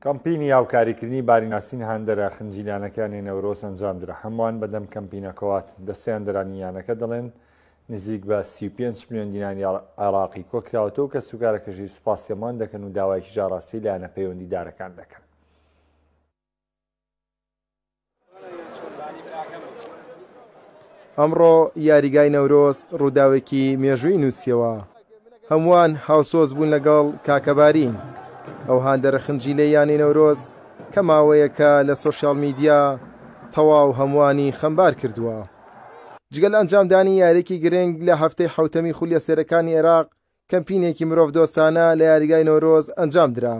کەمپینی هاوکاریکردنی باریناسین هاندەرە خنجیلانەکانی نەورۆز ئەنجامدرا، هەمووان بەدەم کەمپینە کۆات دەستەیاندەرانی یانەکە دەڵێن، نزیک بە سی و پێنج ملیۆن دیناری عێراقی کۆکراوەتەوە و کەسوکارەکەشی سوپاسی هەمووان دەکەن و داوایەکیش ئاڕاستەی لایەنە پەیوەندیدارەکان دەکەن. ئەمڕۆ یاریگای نەورۆز ڕووداوێکی مێژووی نووسیەوە هەمووان هاوسۆز بوون لەگەڵ کاکەبارین ئەو هاندەرە خنجی لێ یانی نەورۆز کە ماوەیەکە لە سوۆسیال میدیا تەواو هەمووانی خەمبار کردووە جگەل ئەنجامدانی یارێکی گرنگ لە هەفتەی حوتەمی خولیە سێرەکانی عێراق کەمپینێکی مرۆڤ دۆستانە لە یاریگای نەورۆز ئەنجام درا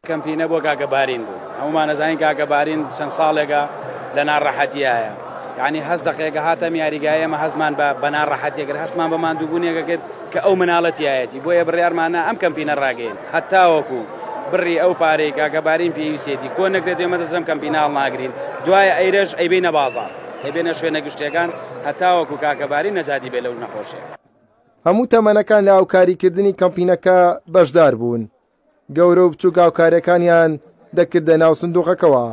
کەمپینە بۆ کاکە بارین بوو هەموومان ئەزانین کاکە بارین چەند ساڵێکە لە ناڕەحەتیایە یعنی هەست دەقێکە هاتەم یاریگای ئێمە هەستمان بە بە ناڕەحەتیە کرد هەستمان بە ماندووبوونێکە کرد کە ئەو مناڵەتیایەتی بۆیە بڕیارمانە ئەم کەمپینە ڕاگەین هەتاوەکو بڕی ئەو پارەی کاکە بارین پێویستێتی کۆ نەکرێت ئێمە دەزم کەمپیناڵ ناگرین دوای ئەیرەش ئەیبینە بازار ئەبێنە شوێنە گشتیەکان هەتاوەکو کاکەباری نەزادی بێ لەو نەخۆشێ. هەموو تەمەنەکان لە هاوکاریکردنی کەمپینەکە بەشدار بوون. گەورە و بچووک هاوکاریەکانیان دەکردە ناو سندوقەکەوە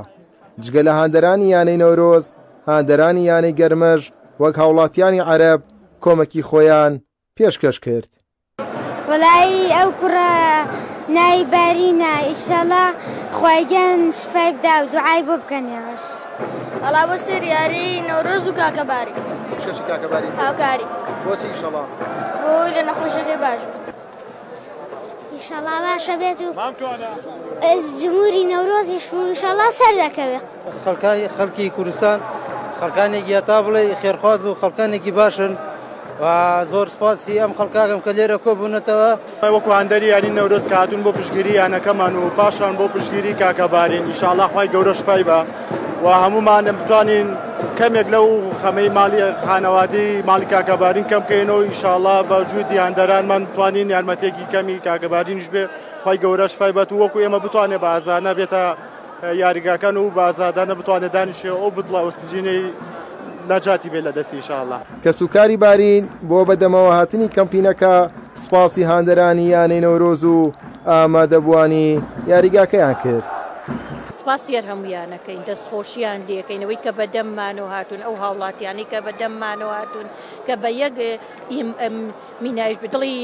جگە لە هاندەرانی یانەی نەورۆز هاندەرانی یانەی گەرمەش وەک هاوڵاتیانی عەرب کۆمەکی خۆیان پێشکەش کرد. وەڵایی ئەو کوڕە ناوی بارینە ئیشەڵا خوایگەن شفای بدا و دوعای بۆ بکەن یاش ئەڵا بۆ سێر یاری نەورۆز و کاکەباری شەشی کاکەباری هاوکاری بۆسی شەڵا بۆی لە نەخۆشەکەی باش ئیشەڵا باشە بێت و جمهوری نەورۆزی شمشەڵا سەر دەکەوێت خەڵکانی خەڵکی کوردستان خەڵکانێک یاتا بڵێ خێرخواز و خەڵکانێکی باشن و زۆر سپاسی ئەم خەڵکاگەم کە لێرە کۆ بوونەتەوە وەکو هەندەری یانی نەورۆز کاتون بۆ پشگیری یانەکەمان و پاشان بۆ پشگیری کاکەبارین ئیشاڵاخوای گەورە شفای بە. و هەموومان بتوانین کەمێک لەو خەمەی مالی خانەوادی مالی کاکەبارین کەم بکەینەوە ئیشاڵا بە جوودی هەندەرانمان بتوانین یارمەتێکی کەمی کاکەبارینش بێ خی گەورەش فیبەت وەکو ئێمە بتوانێت بە ئازانە بێتە یاریگاکان و بازادانە بتوانێت دانیشێ ئەو بتڵە ئۆسیجینەی نەجاتی بێ لە دەستی شاڵە کەسوکاری بارین بۆ بەدەمەوە هاتنی کەمپینەکە سوپاسی هاندەرانی یانەی نەورۆز و ئامادەبووانی یاریگاکەیان کرد. سپاسی هەرهەموویان ئەکەین دەستخۆشیان لێکەین ئەوەی کە بەدەم مانەوە هاتوون ئەو هاوڵاتیانەی کە بەدەم مانەوە هاتوون کە بە یەک ئیم ئەم مینایش بە دڵی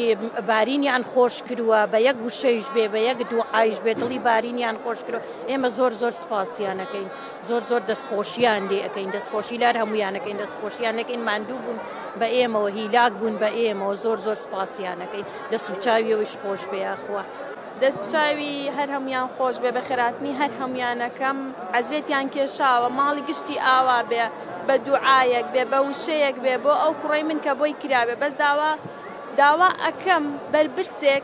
بارینیان خۆش کرووە بە یەک وشەیش بێ بە یەک دوعایش بێ دڵی بارینیان خۆش کرووە ئێمە زۆر زۆر سپاسیان ئەکەین. زۆر زۆر دەستخۆشیان لێ ئەکەین دەستخۆشی لار هەموویان ئەکەین دەستخۆشیان ئەکەین ماندوو بوون بە ئێمەوە هیلاک بوون بە ئێمەوە زۆر زۆر سپاسیان ئەکەین دەست و چاویەوەیش خۆش بێ یاخوا. دەست چاوی هەر هەمویان خۆش بێ بەخێراتنی هەر هەمویانەکەم عەزێتیان کێشاوە ماڵی گشتی ئاوا بێ بە دوعایەک بێ بە وشەیەک بێ بۆ ئەو کوڕەی من کە بۆی کرابێ بەس داوا داوا ئەکەم بەربرسێک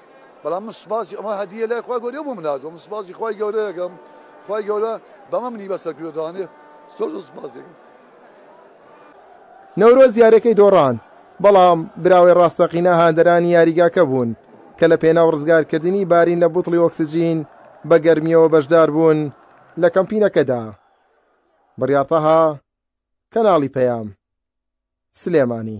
بەڵام من سوپاسی ئەمە هەدیە لای خوای گەورەیە بۆ من هاتووە من سوپاسی خوای گەورەیەکەم خوای گەورە بەمە منی بەسەر کرد دەوانێ زۆر زۆر سوپاسێکم نەورۆز یاریەکەی دۆڕاند، بەڵام براوەی ڕاستەقینە هاندەرانی یاریگاکە بوون کە لە پێناو ڕزگارکردنی بارین لە بوتڵی ئۆکسجین بە گەرمیەوە بەشداربوون لە کەمپینەکەدا. بڕیار تەها، کەناڵی پەیام. سلێمانی.